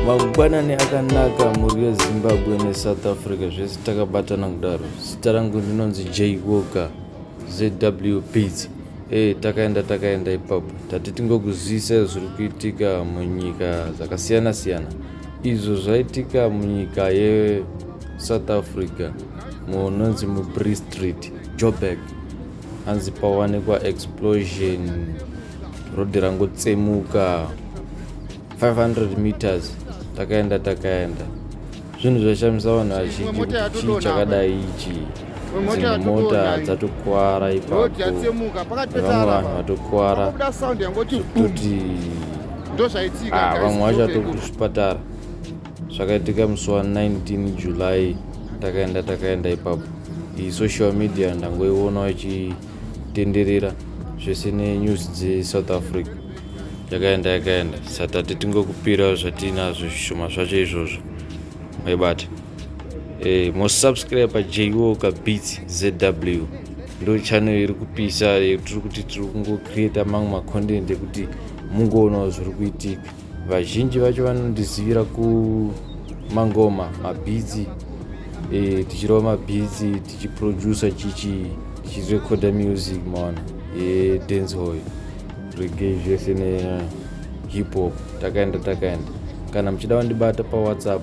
mangwanani akanaka mhuri yezimbabwe nesouth africa zvese takabatana kudaro zita rangu ndinonzi j woka zw pits e eh, takaenda takaenda ipapo tati tingokuzivisa zviri kuitika munyika dzakasiyana siyana izvo zvaitika munyika yesouth africa munonzi mubree street joburg hanzi pawanikwa explosion rodhi rangotsemuka 500 meters takaenda takaenda zvinhu zvashamisa vanhu vazhinji kuti chii chakadai ichii dzimwe mota dzatokuwara ipapovanhu vatokuwara toti ah, vamwe vachato kuzvipatara zvakaitika musi wa 19 july takaenda takaenda ipapo iyi social media ndangoiona ichitenderera zvese nenews dzesouth africa yakaenda yakaenda satati tingokupirawo zvatiinazvo zvishoma zvacho izvozvo maibata Eh, mosubscribe paJwo kabeats zw ndo channel iri kupisa eh, tiri kuti tiri kungocreata mamwe macontent ekuti mungoonawo zviri kuitika vazhinji vacho vanondizivira kumangoma mabhitsi eh, tichirova mabhitsi tichiproducer chichi tichirecorda music maona yedancehoy regay zvese nehip hop takaenda takaenda kana muchida vandibata pawhatsapp